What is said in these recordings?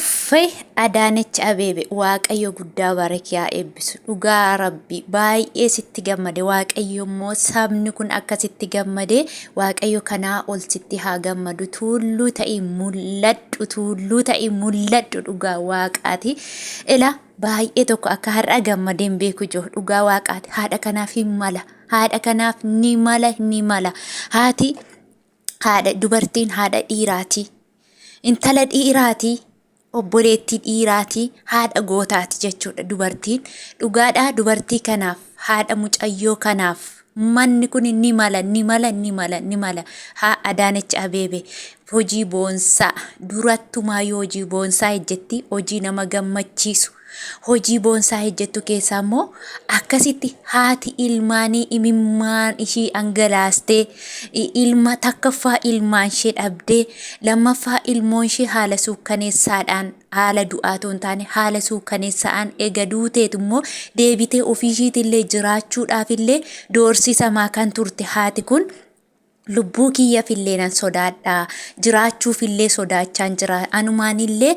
Uuffey Adaanech Abeebe waaqayyo guddaa barake haa eebbisu dhugaa rabbi baay'ee sitti gammade waaqayyo immoo sabni kun akka sitti gammade waaqayyo kanaa ol sitti haa gammadu tuulluu ta'i mul'adhu tuulluu ta'i mul'adhu dhugaa waaqaati ila baay'ee tokko akka har'a gammadeen beeku jiru dhugaa waaqaati haadha kanaaf hin mala haadha kanaaf ni mala ni mala haati haadha dubartiin haadha dhiiraati intala dhiiraati obboleettii dhiiraati haadha gootaati jechuudha dubartiin dhugaadhaa dubartii kanaaf haadha mucayyoo kanaaf manni kun ni mala ni mala ni mala ni mala haa adaanech abeebe hojii boonsaa durattumaa yoo hojii boonsaa hojjetti hojii nama gammachiisu Hojii boonsaa hejjettu keessaa immoo akkasitti haati ilmaanii imimmaan ishii angalaastee ilma takkaffaa ilmaan ishee dhabdee lammaffaa ilmoon ishee haala suukkaneessaadhaan haala du'aatoo hin taane haala suukkaneessa'aan ega duuteetu immoo deebitee ofii ishiitillee jiraachuudhaafillee doorsisamaa kan turte haati kun Lubbuu kiyyafillee nan sodaadha, jiraachuufillee sodaachaan jira. Anumaanillee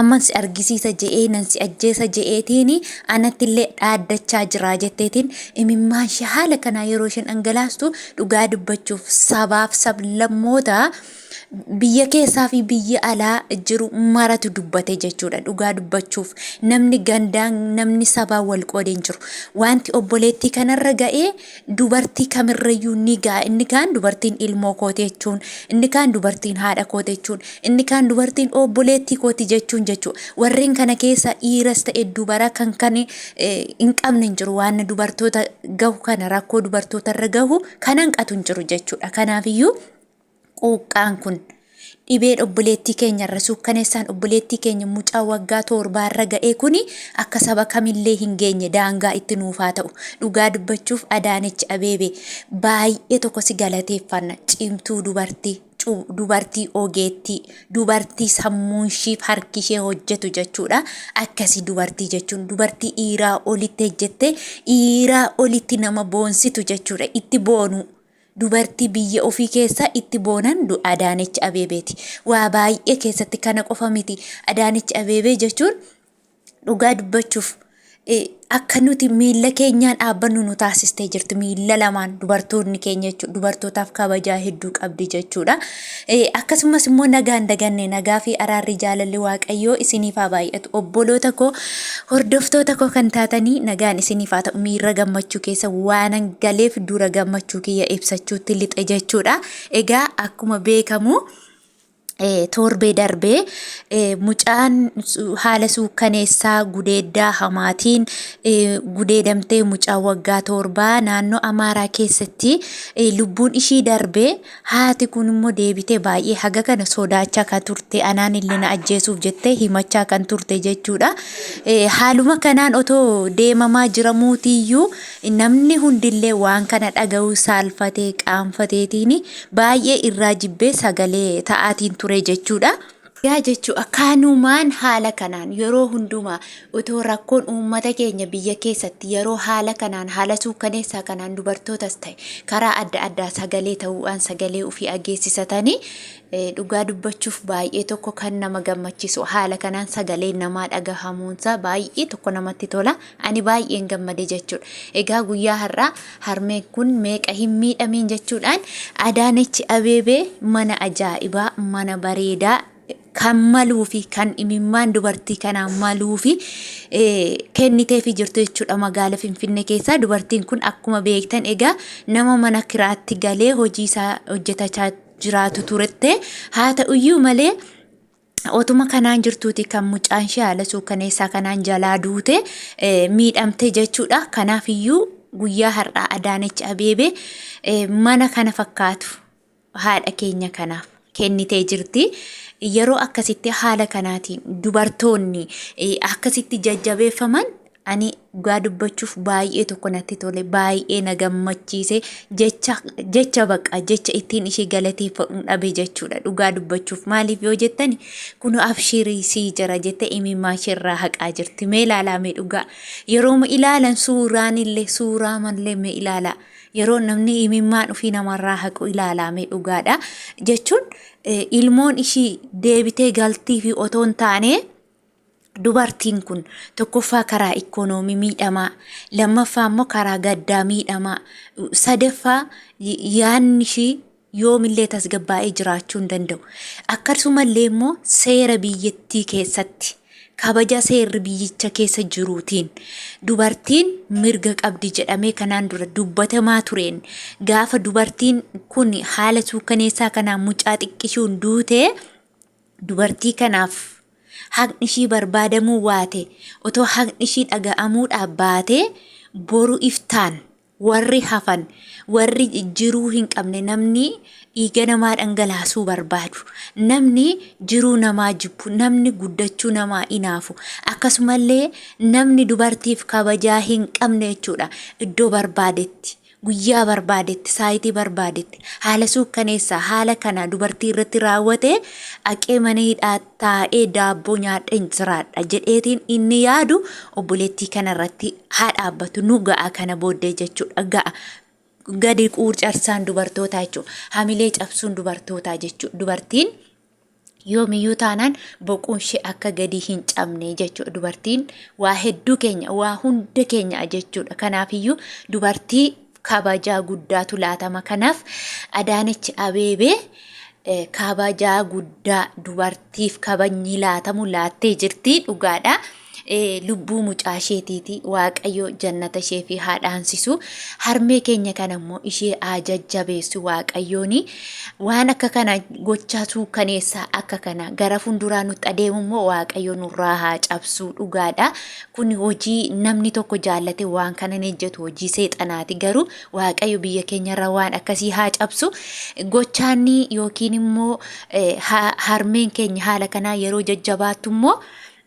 amman si argisiisa je'ee nan si ajjeesa je'eetiin anattillee dhaaddachaa jira jetteetiin imimmaan ishee haala kanaa yeroo isheen dhangalaastu dhugaa dubbachuuf sabaaf sablammoota biyya keessaa fi biyya alaa jiru maratu dubbate jechuudha. Dhugaa dubbachuuf namni gandaan namni sabaa wal qoodee hin jiru. Wanti obboleettii kanarra ga'ee dubartii kamirrayyuu ni ga'a. Inni kaan dubartiin ilmoo kooti jechuun, inni kaan dubartiin haadha kooti jechuun, inni kaan dubartiin obboleettii kooti jechuun jechuudha. Warreen kana keessa dhiiras ta'e dubara kan kan eh, hin qabne hin jiru. Waan dubartoota gahu kana rakkoo dubartootarra gahu kan hanqatu hin jiru jechuudha. Kanaafiyyuu quuqqaan kun dhibeen obboleettii keenya irra suukkaneessaan obboleettii keenya mucaa waggaa torbaa irra ga'ee kun akka saba kamillee hin geenye daangaa itti nuufaa ta'u dhugaa dubbachuuf adaanech abeebe baay'ee tokko si galateeffanna cimtuu dubartii dubartii ogeettii dubartii sammuun ishiif harki ishee hojjetu jechuudha akkasii dubartii jechuun dubartii dhiiraa olitti hojjette dhiiraa olitti nama boonsitu jechuudha itti boonuu Dubartii biyya ofii keessaa itti boonan du Adaanech Abeebeeti. Waa baay'ee keessatti kana qofa miti. Adaanech Abeebee jechuun dhugaa dubbachuuf akka nuti miilla keenyaan dhaabbannu nu taasistee jirti. Miilla lamaan dubartoonni keenya jechuudha. Dubartootaaf kabajaa hedduu qabdi jechuudha. Akkasumas immoo nagaan daganne nagaa fi araarri jaalalli waaqayyoo isiniif haa baay'atu obboloota koo hordoftoota koo kan taatanii nagaan isiniif haa ta'u miirra gammachuu keessa waanan galeef dura gammachuu kiyya ibsachuutti lixe jechuudha. Egaa akkuma beekamu torbee darbee mucaan haala suukkaneessaa gudeeddaa hamaatiin gudeedamtee mucaa waggaa torbaa naannoo Amaaraa keessatti lubbuun ishii darbee Haati kun immoo deebitee baay'ee haga kana sodaachaa kan turte anaan illee na ajjeesuuf jettee himachaa kan turte jechuudha. Haaluma kanaan otoo deemamaa jiramuutiyyuu namni hundillee waan kana dhaga'uu saalfatee qaanfateetiin baay'ee irraa jibbee sagalee ta'aatiin ture jechuudha. Yaa jechuu akaanumaan haala kanaan yeroo hundumaa otoo rakkoon uummata keenya biyya keessatti yeroo haala kanaan haala suukkaneessaa kanaan dubartootas ta'e karaa adda addaa sagalee ta'uudhaan sagalee ofii ageessisatanii eh, dhugaa dubbachuuf baay'ee tokko kan nama gammachiisu haala kanaan sagalee namaa dhagahamuunsaa baay'ee tokko namatti tola. Ani baay'een gammade jechuudha. Egaa guyyaa har'aa harmeen kun meeqa hin miidhamiin jechuudhaan Adaanech Abeebee mana ajaa'ibaa, mana bareedaa kan maluu fi kan imimmaan dubartii kanaa maluu fi kennitee fi jirtu jechuudha magaala Finfinnee keessaa. Dubartiin kun akkuma beektan egaa nama mana kiraatti galee hojii isaa hojjetachaa jiraatu turte. Haa ta'uyyuu malee Otuma kanaan jirtuuti kan mucaan ishee haala suukaneessaa kanaan jalaa duute miidhamte jechuudha. Kanaaf iyyuu guyyaa har'aa Adaanech Abeebee mana kana fakkaatu haadha keenya kanaaf kennitee jirti. Yeroo akkasitti haala kanaatiin dubartoonni akkasitti jajjabeeffaman Ani dhugaa dubbachuuf baay'ee tokko natti tole baay'ee na gammachiise jecha jecha baqa jecha ittiin ishee galateeffadhuun dhabe jechuudha dhugaa dubbachuuf maaliif yoo jettani kun abshiirii sii jira jette imimmaa isheerraa haqaa jirti mee ilaalaa mee dhugaa yeroo ma ilaalan suuraan illee suuraa mallee mee ilaalaa yeroo namni imimmaan ofii namarraa haqu ilaalaa mee dhugaadha jechuun eh, ilmoon ishii deebitee galtii fi otoo hin taane Dubartiin kun tokkoffaa karaa ikkoonoomii miidhamaa, lammaffaa immoo karaa gaddaa miidhamaa, sadaffaa yaadni ishii yoomillee tasgabbaa'ee jiraachuu hin danda'u. Akkasumallee immoo seera biyyattii keessatti kabaja seerri biyyicha keessa jiruutiin dubartiin mirga qabdi jedhamee kanaan dura dubbatamaa tureen gaafa dubartiin kun haala suukkaneessaa kanaan mucaa xiqqishuun duutee Dubartii kanaaf haqni ishii barbaadamuu waate otoo haqni ishii dhaga'amuudhaaf baatee boru iftaan warri hafan warri jiruu hin qabne namni dhiiga namaa dhangalaasuu barbaadu namni jiruu namaa jibbu namni guddachuu namaa inaafu akkasumallee namni dubartiif kabajaa hin qabne jechuudha iddoo barbaadetti guyyaa barbaadetti, saayitii barbaadetti, haala suukkaneessaa haala kana dubartii irratti raawwate aqee mana hidhaa taa'ee daabboo nyaadheen jiraadha jedheetiin inni yaadu obboleettii kana irratti haa dhaabbatu nu ga'a kana booddee jechuudha ga'a. Gadi quurcarsaan dubartootaa jechuudha. Hamilee cabsuun dubartootaa jechuudha. Dubartiin yoomiyyuu taanaan boquun ishee akka gadii hin cabne jechuudha. Dubartiin waa hedduu keenya, waa hunda keenya jechuudha. Kanaafiyyuu dubartii kabajaa guddaatu laatama. Kanaaf Adaanech Abeebee eh, kabajaa guddaa dubartiif kabajni laatamu laattee jirti dhugaadha. lubbuu mucaa isheetiiti waaqayyo jannata ishee fi haa dhaansisu harmee keenya kana immoo ishee haa jajjabeessu waaqayyooni waan akka kana gochaa suukkaneessaa akka kana gara funduraa nutti adeemu immoo waaqayyo nurraa haa cabsuu dhugaadha kun hojii namni tokko jaallate waan kana hin hojjetu hojii seexanaati garuu waaqayyo biyya keenyarra waan akkasii haa cabsu gochaanni yookiin immoo harmeen keenya haala kanaa yeroo jajjabaattu immoo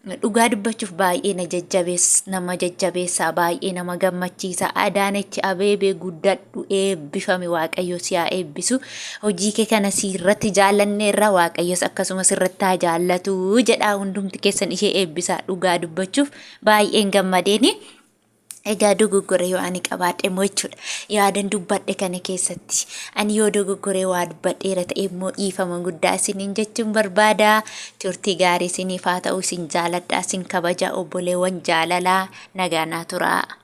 Dhugaa dubbachuuf baay'ee na jajjabees nama jajjabeessaa baay'ee nama gammachiisa Adaanech Abeebee guddadhu eebbifami waaqayyo si haa eebbisu hojii kee kana si irratti jaallanne irra waaqayyos akkasumas irratti haa jaallatu jedhaa hundumti keessan ishee eebbisaa dhugaa dubbachuuf baay'een gammadeeni Egaa dogoggora yoo ani qabaadhe immoo jechuudha. Yaadan dubbadhe kana keessatti ani yoo dogoggoree waa dubbadheera ta'e immoo dhiifama guddaa isiniin jechuun barbaada. Turtii gaarii isiniif haa ta'u isin jaaladha isin kabaja obboleewwan jaalalaa nagaa naa turaa.